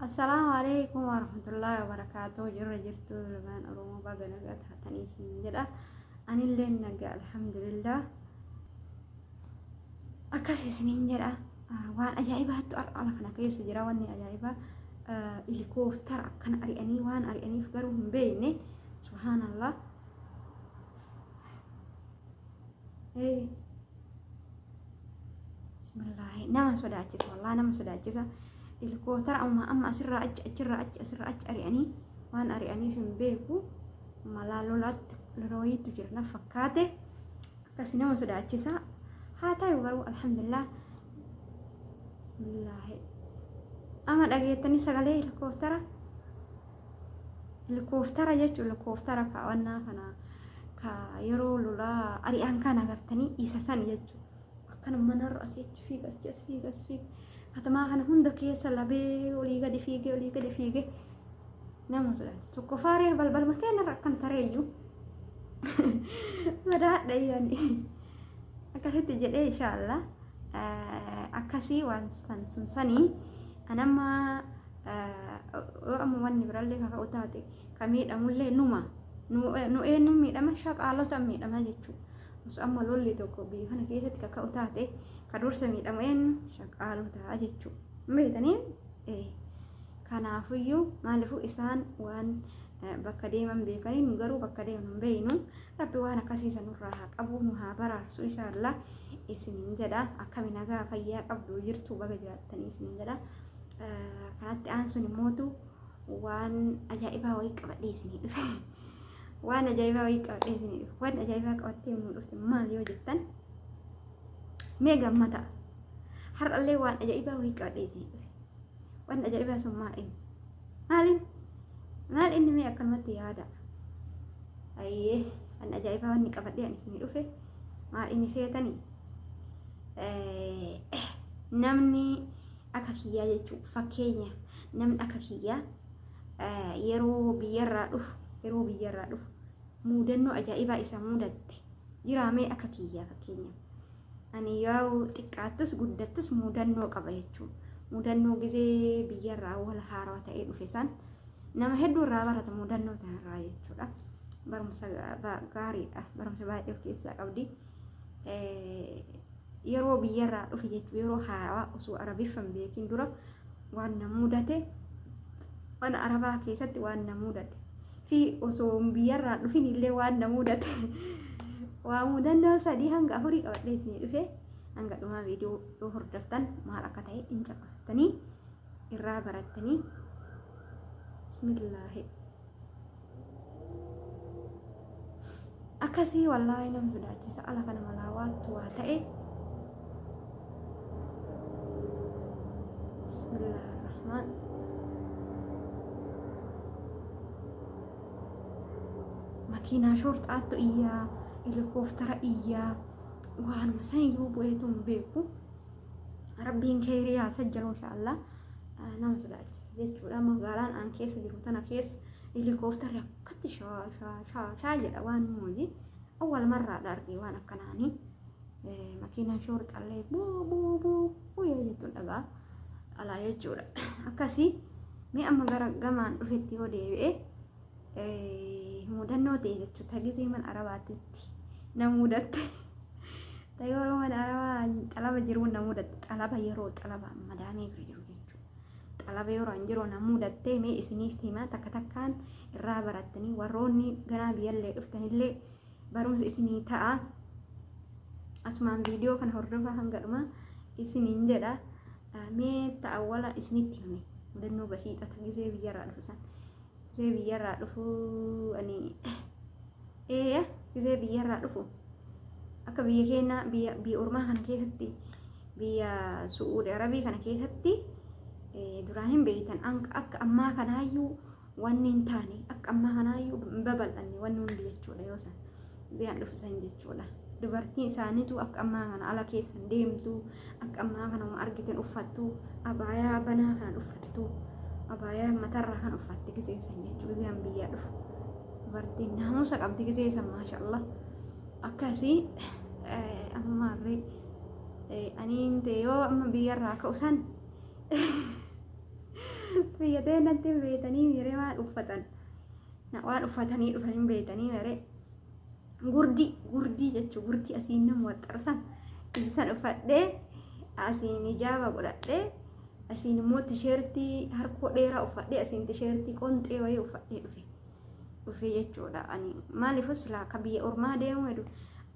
Assalaamu alaikum warahmatullahi wabarakatuh jirra jirtu ilmaan oromoo baga nagaa taatanii siin jedha anillee nagaa alhamdulillah akkas isiniin jedha waan ajaa'ibaattu har'a ala kana keessa jira wanni ajaa'ibaa ilikooftar akkana ari'anii waan ari'aniif garuu hin beekne subhaanallah bismillaahi nama sodaachisa wallaa nama sodaachisa ilkootara amma amma asirraa achi achirraa achi asirraa achi ari'anii waan ari'aniif hin beeku malaa lolaatti lolooyiitu jira na fakkaate akkasi nama sodaachisa haa ta'u garuu alhamdulillah bismillaahi amma dhageettanii sagalee ilkootara Helikooftara jechuun helikooftara kaawannaa kana ka yeroo lolaa ari'aan kan agartanii isa san jechuudha. Akkana manarra asii achi fiiga achi as fiiga as fiiga. Katamaa kana hunda keessa labee olii gadi fiigee olii gadi fiigee nama sodaachisa. Tokko faaree balbalma keenyarra akkam tareeyyuu. Sodaadha yaani. Akkasitti jedhee inshaallah akkasii waan san sun sanii anammaa yoo amma wanni birallee kaka'u taate ka miidhamullee numa nu eenyu miidhama shaqaalota miidhama jechuudha. Osoo amma lolli tokko biyya kana keessatti kaka'u taate ka dursa miidhamu eenyu shaqaalota jechuudha. Beekanii kanaafuyyuu maaliifuu isaan waan bakka deeman beekanii nu garuu bakka deeman beeknu rabbi waan akkasii sanurraa haa qabu nu haa baraarsu inshaallah isiniin jedha akkami nagaa fayyaa qabdu jirtu baga jiraattanii isiniin jedha. Kanatti aansuun immootu waan ajaa'ibaa wayii qabadhee isinii dhufe. Waan ajaa'ibaa wayii qabadhee isinii dhufe. Waan ajaa'ibaa qabattee nu dhufte maal yoo jettan mee gammada. Har'allee waan ajaa'ibaa wayii qabadhee isinii dhufe. Waan ajaa'ibaa sun maal inni? Maaliin? Maal inni mee akkanumatti yaada? Ayyee waan ajaa'ibaa wanni qabadhee ani isinii dhufe maal inni seetanii? namni Akka kiyyaa jechuun fakkeenya namni akka kiyyaa yeroo biyyarraa dhufu yeroo biyyarraa dhufu muudannoo ajaa'ibaa isa muudatte jiraamee akka kiyyaa fakkeenya. Ani yoo xiqqaattus guddattus muudannoo qaba jechuun muudannoo gizee biyyarraa wal haaraa ta'ee dhufe san nama hedduu irraa barata muudannoo tanarraa jechuudha. Barumsa gaariidha. Barumsa baay'ee of keessaa qabdi. yeroo biyyarraa dhufe jechuun yeroo haarawaa osoo arabiffan beekin dura waan na mudate mana arabaa keessatti waan na mudate fi osoo biyyarraa dhufin illee waan na mudate waa mudannoo sadii hanga afurii qabadhee isinii dhufe hanga dhumaa viidiyoo yoo hordoftan maal akka ta'e hin caqafattanii irraa barattanii bismillaahi akkasii wallaahi nama sodaachisa ala kana malaa waattu waa ta'e bismillahirrahmaan makiinaa shoorxaattu iyyaa helikooftara iyyaa waanuma san iyyuu bu'eetu hin beeku rabbiin keeyrii haa sajjalu inshaallah nama sodaachisa jechuudha magaalaan an keessa jiru tana keessa helikooftarri akkatti shaa shaa shaa shaa jedha waan mooji awwal marraa dhaarge waan akkanaanii makiinaan shoor xallee buu buu buu buu yoo jettuun dhagaa alaa jechuudha akkasii mee amma gara gamaan dhufetti yoo deebi'e mudannoo ta'e jechuudha tagisii mana arabaatitti na mudatte yeroo mana arabaa xalaba jiruun na mudatte xalaba yeroo xalaba madaamee bira jiru jechuudha. xalaba yeroo an jiroo na muudattee mee isiniif himaa takka takkaan irraa barattanii warroonni ganaa biyyallee dhuftanillee barumsa isinii ta'a asumaan viidiyoo kana hordofaa hanga dhumaa isiniin jedha mee ta'awwala isinitti hime mudannoo basiixata gisee biyyarraa dhufisan Gisee biyyarraa dhufu ani eeya gisee biyyarraa dhufu akka biyya keenya biyya biyya ormaa kana keessatti biyya su'uudi arabii kana keessatti eh, duraan hin beektan An- akka ammaa kanaayyuu wanni hin taane akka ammaa kanaayyuu hin babal'anne wanni hundi jechuudha yoo san Ziyaan dhufu san jechuudha. Dubartiin isaaniitu akka ammaa kana ala keessan deemtu, akka ammaa kana uma argitan uffattu, abaayaa banaa kan uffattu, abaayaa matarraa kan uffatti gisee san jechuudha. Ziyaan biyyaa dhufu. Dubartiin naamusa qabdi gisee san maashaallah. Akkasii amma harree aniin yoo amma biyyarraa ka'u san biyya deemnatti beekanii miiremaa uffatan. Na waan uffatanii dhufan hin beektanii maree. Gurdii, gurdii jechuun gurdii asiin nama waxxarsan. Isaan uffadhee asiin ijaaba godhadhee asiin immoo tisheertii harkoo dheeraa uffadhee asiin tisheertii qonxee wayii uffadhee dhufe. Dhufe jechuudha. Ani maaliif silaa akka biyya ormaa deemu hedu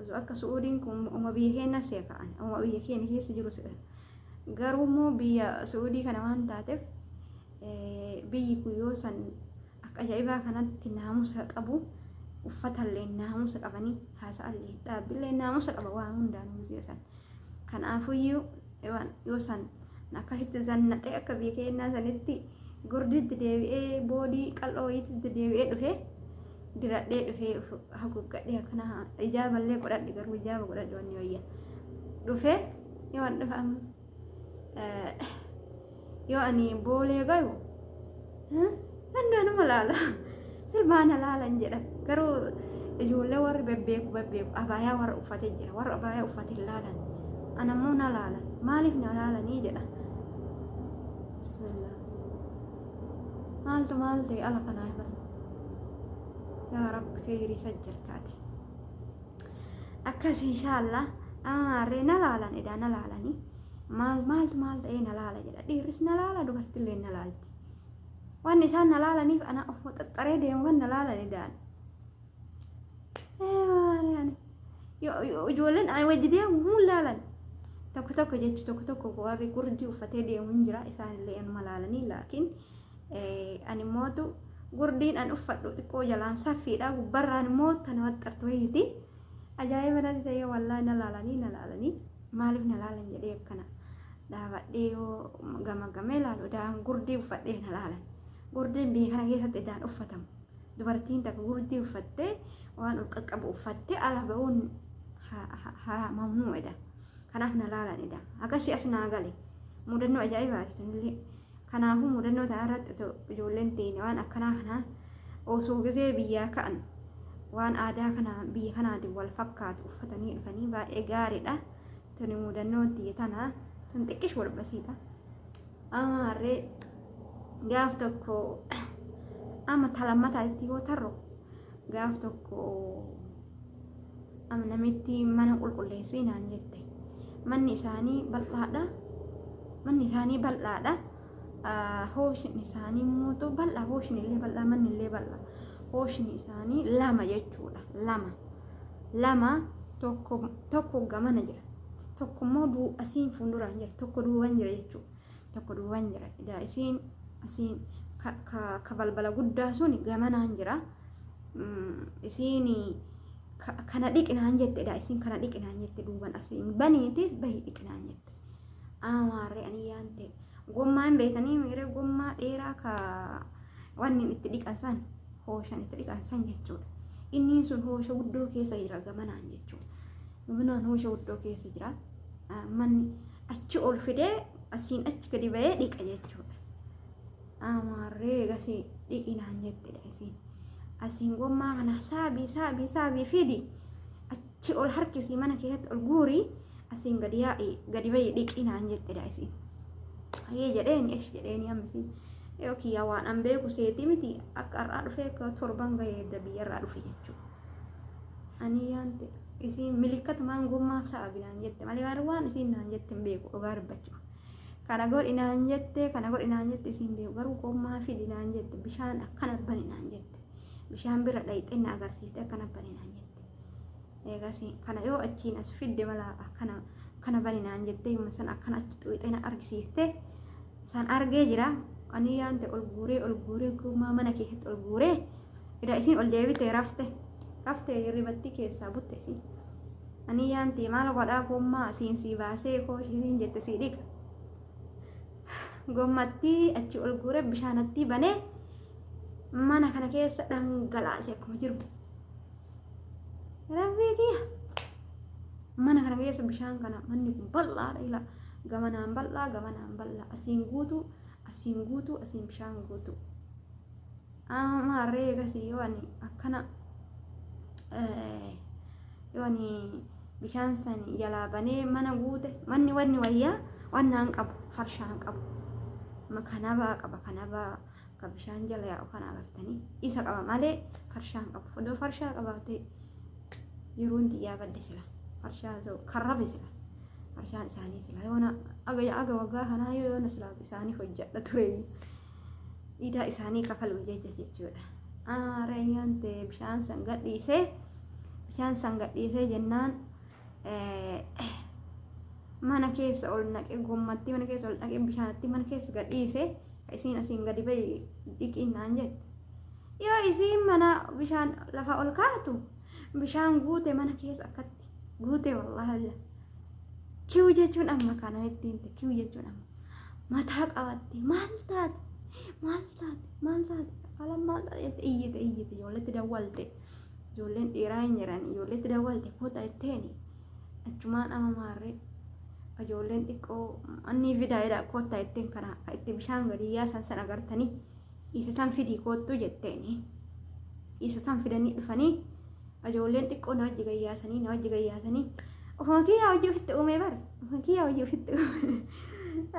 osoo akka su'uudiin kun uma biyya keenyaa si'a ka'an uma biyya keenya keessa jiru si'a garuu immoo biyya su'uudii kana waan taateef biyyi kun yoo san Akka ajaa'ibaa kanatti naamusa qabu. Uffatallee naamusa qabanii haasa'allee dhaabbillee naamusa qaba waan hundaan muziya san. Kanaafuyyuu waan yoo san akkasitti zannaxee akka biyya keenyaa sanitti gurditti deebi'ee boodii qal'oo wayiitti deebi'ee dhufee diradhee dhufee haguuggadhee akkana ijaaballee godhadhe garuu ijaaba godhadhe wanni wayya dhufee yoo an dhufa amma yoo ani boolee gayu handaanuma laala sirbaana laalan jedha garuu ijoollee warri bebbeeku bebbeeku abaayaa warra uffate jira warra abaayaa uffate hin laalan anammoo na laala maaliif na laalanii jedha bismillah maaltu maal ta'e ala kanaa himan yaa rabbi keeyrii sajjarkaati akkas inshaallah amaarree na laalan edaa na laalanii maal maaltu maal ta'ee na laala jedha dhiirris na laala dubartillee na laalti waan isaan na laalaniif ana of waxaxxaree deemu kan na laalan edaan ijoolleen ani wajji deemu hin laalan tokko tokko jechu tokko tokko warri gurdii uffatee deemu hin jira isaanillee anuma laalanii laakiin Ani mootu gurdiin an uffadhu xiqqoo jalaan saffiidha gubbarraan immoo tana waxxartu wayiiti. Ajaa'iba natti ta'ee wallaahi na laalanii na laalanii maaliif na laalan jedhee akkana dhaabadhee yoo gamagamee laalu idaan gurdii uffadhee na laalan. Gurdiin biyya kana keessatti idaan uffatamu. Dubartiin takka gurdii uffattee waan ol qaqqabu uffattee ala ba'uun haraa mamnuudha. Kanaaf na laalan idaan. Akkasii as naa gale. Mudannoo ajaa'ibaati tunillee. Kanaafuu mudannoo ta'an irratti otoo ijoolleen teenya waan akkanaa kanaan osoo gizee biyyaa ka'an waan aadaa kana biyya kanaatiin wal fakkaatu uffatanii dhufanii baay'ee gaariidha. Tuni mudannoo tiyya tana tun xiqqish wal basiidha. Amma harree gaaf tokko amma talammataa itti yoo tarru gaaf tokko Namitti mana qulqulleessii naan jette. Manni isaanii bal'aadha. Manni isaanii bal'aadha. Hooshin isaanii immoo bal'aa hooshin illee bal'aa manni illee bal'aa. Hooshin isaanii lama jechuudha. Lama. Lama tokko tokko gamana jira. Tokko immoo duubasiin fuulduraan jira. Tokko duuban jira jechuudha. tokko duwwaan jira edaa isiin asiin ka, ka, ka balbala guddaa sun gamanaan jira Mm, isiin ka- kana dhiqinaan jette edaa isiin kana dhiqinaan jette duuban asiin baniitis bahi dhiqinaan jette amaarree ani yaante gommaa hin beekanii miiree gommaa dheeraa ka wanni itti dhiqan san hooshan itti dhiqan san jechuudha inniin sun hoosha guddoo keessa jira gamanaan jechuudha Minaan hoosha guddoo keessa jira. Manni achi ol fidee asiin achi gadi ba'ee dhiqa jechuudha. Amaarree gasii dhiqinaan jettedha isiin. Asiin gommaa kana saabii saabii saabii fidi achi ol harkisii mana keessatti ol guurii asiin gadi yaa'ii gadi ba'ii dhiqinaan jettedha isiin. Ayyee jedheeni esh jedheeni ammisiin. Yoo kiyyaa waan an beeku seetii miti akka har'aa dhufee akka torban ga'ee biyya irraa dhufe jechuudha. Ani yaante isiin milikkata maan gommaaf sa'abi naan jette malee waan waan isiin naan jette hin beeku dhugaa dubbachuuf. Kana godhi naan jette kana godhi naan jette isiin beeku garuu gommaa fidi naan jette bishaan akkana bani naan jette bishaan bira dhayxee na agarsiifte akkana bani naan jette. Eegas kana yoo achiin as fidde mala akkana kana bani naan jette yomma san akkana achi xuuxee na argisiifte. San argee jira. Ani yaante ol guuree ol guuree guumaa mana keessatti ol guuree ida isiin ol deebite rafte rafte hirribattii keessaa butte isiin. Ani yaante maal godhaa gommaa siin sii baasee koo isiin jette sii dhiqa. Gommattii achi ol guuree bishaanattii banee mana kana keessa dhangalaase akkuma jirbu. Rabbii kiyya. Mana kana keessa bishaan kana manni kun bal'aadha ila gamanaan bal'aa gamanaan bal'aa asiin guutuu asiin guutuu asiin bishaan guutuu. Amma harree eegasii yoo ani akkana eh, yoo ani bishaan san jalaa banee mana guute manni wanni wayyaa wannaan qabu farshaan qabu. Ma kanabaa qaba kanabaa. ka bishaan jala yaa'u kana agartanii isa qaba malee farshaa hin qabu odoo farshaa qabaatee yeroon xiyyaa badde sila farshaa za'u karrabe sila farshaan isaanii sila yoona aga aga waggaa kanaa yoo yoona sila isaanii hojjadha ture dhiidaa isaanii kafalu jecha jechuudha aareenyaan ta'e bishaan san gadhiisee bishaan san gadhiisee jennaan mana keessa ol naqe gommattii mana keessa ol dhaqe bishaanatti mana keessa gadhiise isiin asiin gadi bahi dhiqiin naan jette yoo isiin mana bishaan lafa ol kaatu bishaan guute mana keessa akkatti guute wallaahi kiw jechuun amma kana ittiin kiw jechuun amma mataa qabatte maal taate maal taate maal taate alam maal taate iyyite iyyite ijoolletti dawwalte Ijoolleen dhiiraa hin jiran ijoolleetti dawwalte kota itteeni achumaan ama maarree ijoolleen xiqqoo annii fidaa jedha kota itteen kana itti bishaan gadi yaasan san agartanii isa san fidii koottuu jetteeni isa san fidanii dhufanii ijoolleen xiqqoo na wajji gayyaasanii na wajji gayyaasanii ofuma kiyyaa hojii ofitti uumee bar ofuma kiyyaa hojii ofitti uumee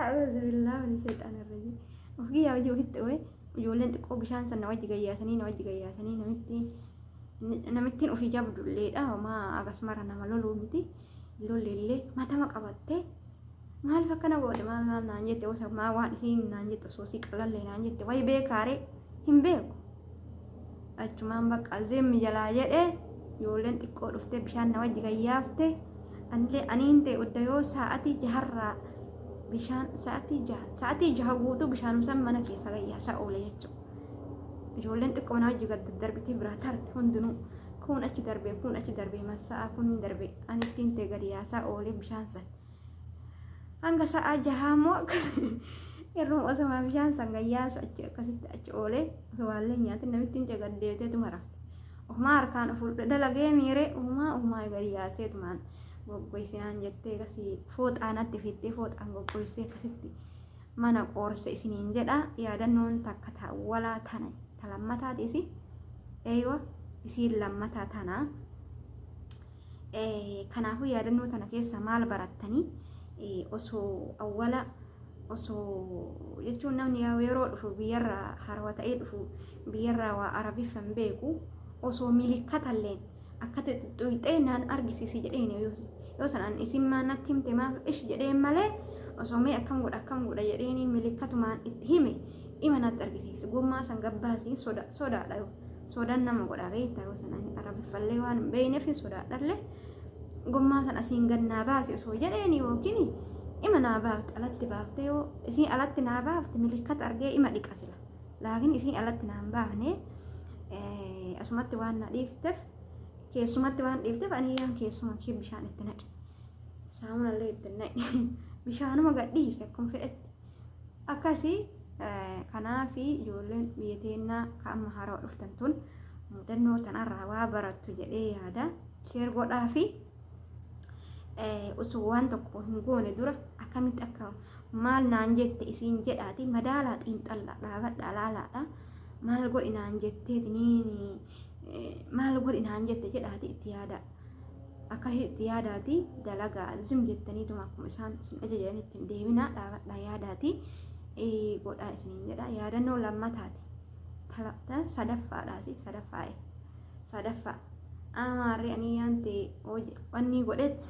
a'uuzu billaa min sheexaan irrajii ofuma kiyyaa hojii ofitti uumee Ijoolleen xiqqoo bishaan sana wajji gayyaasanii na wajji gayyaasanii namitti namittiin ofii jabdulleedha homaa akkasumara nama loluu miti lolleellee matama qabattee maal fakkana goote maal maal naan jette osa maa waan isiin naan jette osoo si qalallee naan jette wayi beekaaree hin beeku achumaan bakka zim jalaa jedhe ijoolleen xiqqoo dhuftee bishaan na wajji gayyaafte anillee aniin ta'e udda yoo sa'atii jaharraa bishaan sa'atii jaha sa'atii jaha guutuu bishaanumsan mana keessa gayyaasaa oole jechuudha. Ijoolleen xiqqoo na wajji gad darbitee biraa tarte hundinuu kun achi darbee kun achi darbee massa'aa kun darbee ani ittiin ta'e gadi yaasaa oole bishaan sana. hanga sa'aa jahaa immoo akka irruma osoma bishaan san gayyaasu achi akkasitti achi oolee osoo waallee nyaatin namittiin cagaddeeteetuma rafte ofumaa harkaan of dalagee miiree ofumaa ofumaa gayyaaseetumaan goggoysinaan jettee akkasii fooxaanatti fiittee fooxaan goggoysee akkasitti mana qoorse isiniin jedha yaadannoon takka taawwalaa tana ta lammataatiisi eeywa isiin lammataa tanaa Kanaafuu yaadannoo tana keessaa maal barattanii osoo awwala osoo jechuun namni yeroo dhufu biyyarraa harawa ta'ee dhufu biyyarraa waa arabiffa hin beeku osoo milikkatalleen akkatti xuxxuuxee naan argisiisi jedheen yoo sanaan isin maa natti himte maaf ish jedheen malee osoo mee akkam godha akkam godha jedheen milikkatumaan itti hime ima natti argisiisu gommaa san gabbaasiin sodaadha yoo Soodaan nama godhaa beektaa yoo sana hin arabiffallee waan hin beekneef hin sodaadhallee gommaa sana asiin gad naa baasi osoo jedheen yookiin ima naa baafte alatti baaftee yoo isiin alatti naa baafte milikkata argee ima dhiqa sila laakiin isiin alatti naa hin baafne asumatti waan na dhiifteef keessumatti waan dhiifteef ani yaan keessuma ishee bishaan itti naqe saamunallee itti naqe bishaanuma gadhiise akkuma fedhetti akkasi kanaaf ijoolleen biyya teennaa ka amma haarawa dhuftan tun mudannoo tanarraa waa barattu jedhee yaada sheer godhaa fi osoo waan tokko hin goone dura akkamitti akka maal naan jette isiin jedhaati madaalaa xiinxallaa dhaabadhaa laalaadha maal godhi naan jetteeti maal godhi naan jette jedhaati itti yaada akka itti yaadaati dalagaa zim jettaniituma akkuma isaan isin ajajan ittiin deeminaa dhaabadhaa yaadaati godhaa isiniin jedha yaadannoo lammataati talata sadaffaadhaasi sadaffaa'e sadaffaa amaarri anii yaante wanni godhet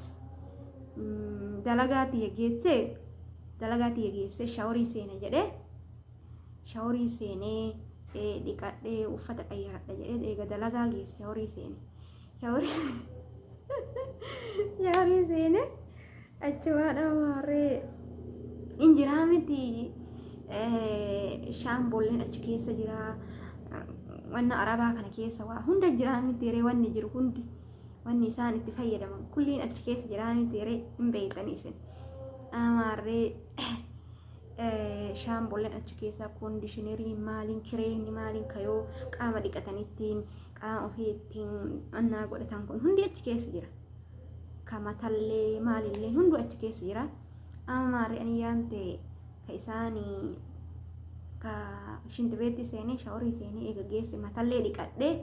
dalagaa tiyya geessee dalagaa tiyya geessee shaworii seene jedhee shaworii seenee dhiqadhee uffata qayyaradha jedhee eega dalagaa geesse shaworii seene. Yaarii seene achumaadha maarree hin jiraa miti shaamboolleen achi keessa jira wanna arabaa kana keessa waa hunda jiraa miti ree wanni jiru hundi wanni isaan itti fayyadaman kulliin achi keessa jiraa miti ree hin beektan isin amaarree shaamboolleen achi keessa koondishinarii maaliin kireemni maaliin kayoo qaama dhiqatanittiin Qaama ofii ittiin annaa godhatan kun hundi achi keessa jira. Kamatallee maalillee hundu achi keessa jira. Amma maarri ani yaante ka isaanii ka shinti beetti seenee shaworii seenee eega geesse matallee dhiqadhee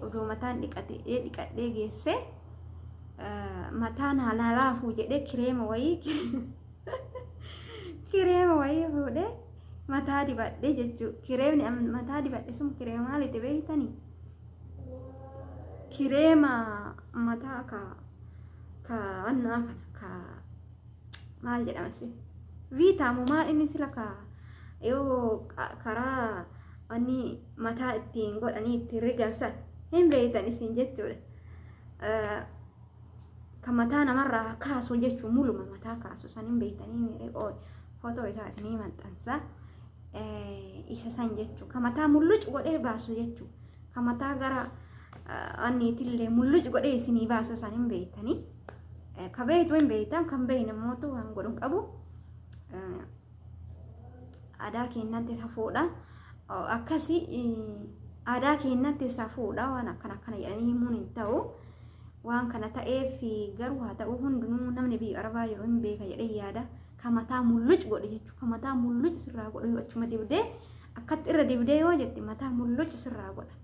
odoo mataan dhiqatee dhiqadhee geesse mataan haalaa laafuu jedhee kireema wayii kireema wayii fuudhee. mataa dibadhe jechuu kireemni an mataa dibadhe sun kireema maaliti beeytani kireema mataa ka ka annaa kana ka maal jedhama si viitaamu maal inni sila ka yoo ka- karaa wanni mataa ittiin godhanii ittiin rigan san hin beeytan isin jechuudha Eh, ka mataa namarraa kaasu jechuun muluma mataa kaasu san hin beektanii miiree qooy footoo isaa isinii maxxansa isa san jechuu ka mataa mulluc godhee baasu jechuu ka mataa gara anniitillee mulluc godhee isinii baasu san hin beektanii ka beektu hin beektan kan beekne mootu waan godhu hin qabu aadaa keenyatti safuudha akkasii aadaa keenyatti safuudha waan akkana akkana jedhanii himuun hin ta'u. Waan kana ta'eef garuu haa ta'uu hundinuu namni biyya arabaa jiru hin beeka jedhee yaada. Ka mataa mulluc godhu jechuudha. Ka mataa mulluc sirraa godhu yoo achuma dibdee akkatti irra dibdee yoo jette mataa mulluc sirraa godha.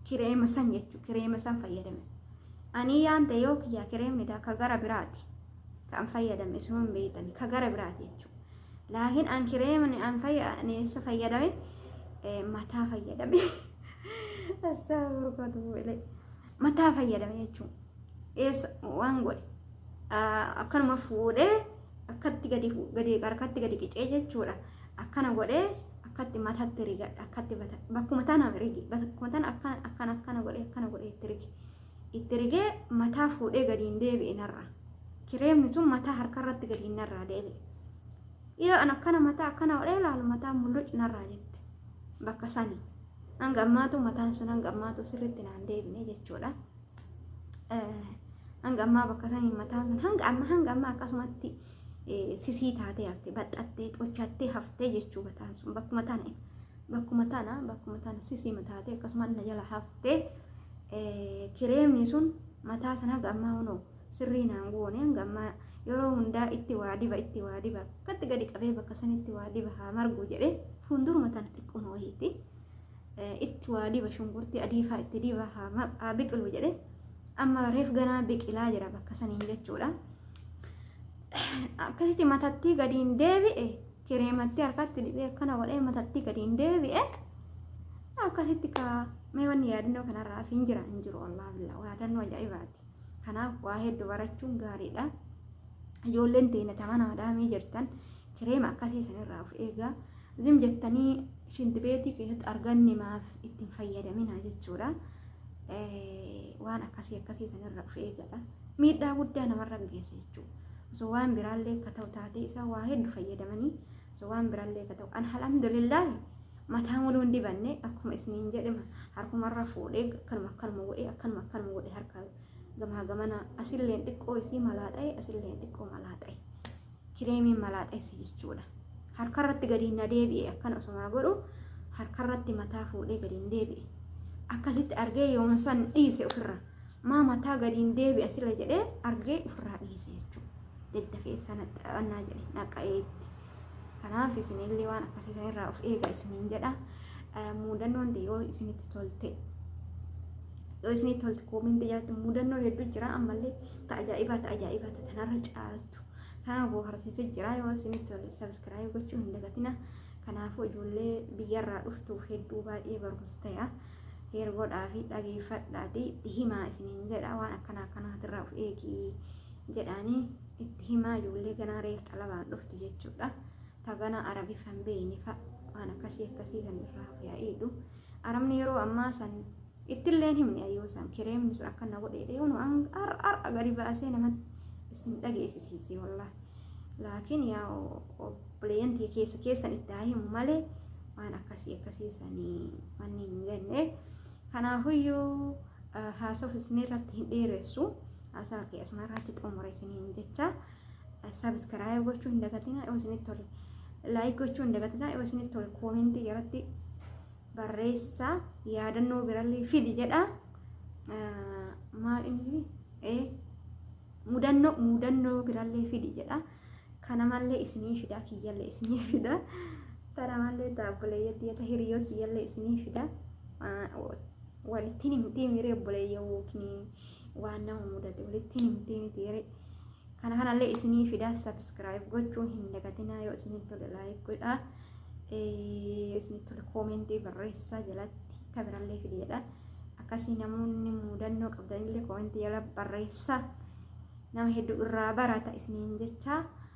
Kireema san jechuudha. Kireema san fayyadame. Ani yaan ta'e yoo kiyyaa kireemni daa ka gara biraati. Kan fayyadame isuma hin beektani. Ka gara biraati jechuudha. Laakiin an kireemni an fayyadame fayyadame mataa fayyadame. Asxaa gurguratu bu'eelee. mataa fayyadame jechuun eessa waan godhe akkanuma fuudhee akkatti gadi gadi harkatti gadi qicee jechuudha akkana godhee akkatti matatti rigadha akkatti bakkuma tana rigi bakkuma tana akkana akkana akkana godhee akkana godhee itti rigi itti rigee mataa fuudhee gadi hin deebi'e narraa kireemni sun mataa harkarratti gadi hin narraa deebi'e yoo an akkana mataa akkana godhee ilaalu mataa mulluc narraa jette bakka sanii hanga ammaatu mataan sun hanga ammaatu sirriitti naan deebine jechuudha. Hanga ammaa bakka saniin mataan sun hanga amma hanga amma akkasumatti sisii taatee hafte baxxattee xochattee haftee jechuu mataan sun bakkuma tana bakkuma tana bakkuma tana sisii mataatee akkasumas na jala haftee kireemni sun mataa sana hanga ammaa hunoo sirrii naan goone hanga ammaa yeroo hundaa itti waa diba itti waa diba akkatti gadi qabee bakka sanitti waa diba haa margu jedhee fuulduruma tana xiqquma wayiitti itti waa diba shunkurtii adii faa itti diba haa biqilu jedhee amma reef ganaa biqilaa jira bakka saniin jechuudha. Akkasitti matattii gadiin deebi'e kireemattii harkatti dibee akkana godhee matattii gadiin deebi'e akkasitti kaa mee wanni yaadannoo kanarraa fi hin jira hin jiru wallaahi billaa yaadannoo ajaa'ibaati. Kanaaf waa heddu barachuun gaariidha. Ijoolleen teenya tama naadaamii jirtan kireema akkasii sanirraa of eegaa. Zim jettanii shinti beetii keessatti arganne maaf ittiin fayyadaminaa jechuudha. Waan akkasii akkasii sanirraa of eegadha. Miidhaa guddaa namarra geessa jechuudha. Osoo waan biraallee akka ta'u taatee isaa waa heddu fayyadamanii so waan birallee ka ta'u alhamdulillahi mataa muluu hin dibanne akkuma isniin jedhima harkumarra fuudhee akkanuma akkanuma godhee akkanuma akkanuma godhee harka gamaa gamana asilleen xiqqoo isii malaa ta'e asilleen xiqqoo malaa ta'e kireemiin malaa ta'e si jechuudha harkarratti gadi na deebi'e akkana osumaa godhu harkarratti mataa fuudhee gadi hin deebi'e akkasitti argee yooma san dhiise ofirra maa mataa gadi hin deebi'a sila jedhee argee ofirraa dhiise jechuudha. dedda keessa naxxaannaa jedhe naqqa'ee itti. Kanaaf isinillee waan akkasii sanirraa of eega isiniin jedha. Muudannoon yoo isinitti tolte yoo isinitti tolte koominti jalatti muudannoo hedduu jira ammallee ta ajaa'ibaa ta ajaa'ibaa ta tanarra caaltu. Kanaaf booharsiisu jira yoo isinitti tolte sabiskiraayib gochuu hin dagatina. Kanaafuu ijoollee biyyarraa dhuftuuf hedduu baay'ee barumsa ta'a. Heer godhaa fi dhageeffadhaati himaa isiniin jedha waan akkana akkanaatirraa of eegi. jedhaanii itti himaa ijoollee ganaa reef xalabaan dhuftu jechuudha taganaa arabiif hin beeyne fa'a waan akkasii akkasii kan irraa fayyadu arabni yeroo ammaa san ittillee himne ayyoo san kireemni sun akka na godhee dheewnu har'a gadi baasee namatti isin dhageessisiisee wallaahi laakiin yaa obboleeyyantii keessa keessan itti haa himu malee waan akkasii akkasii sanii manni hin jenne kanaafuyyuu haasofisni irratti hin dheeressu. haasaa kee asuma irratti xumura isiniin jecha sabiskiraayib gochuu hin dagatinaa yoo isinitti tole laayik gochuu hin dagatinaa yoo isinitti tole koomentii jalatti barreessaa yaadannoo birallee fidi jedha maal inni ee mudannoo mudannoo birallee fidi jedha kana mallee isinii fida kiyyallee isinii fida tana mallee taabbuleeyyatti yata hiriyyoo kiyyallee isinii fida walittiin himtii miiree obboleeyyoo yookiin waan nama mudate walitti himtee miti yeree kana kanallee isinii fidaa sabiskiraayib gochuu hin dagatinaa yoo isinii tole laayik godhaa isinii tole koomentii barreessaa jalatti tabirallee fideedha akkasii namoonni mudannoo qabdanillee koomentii jala barreessaa nama hedduu irraa barata isiniin jechaa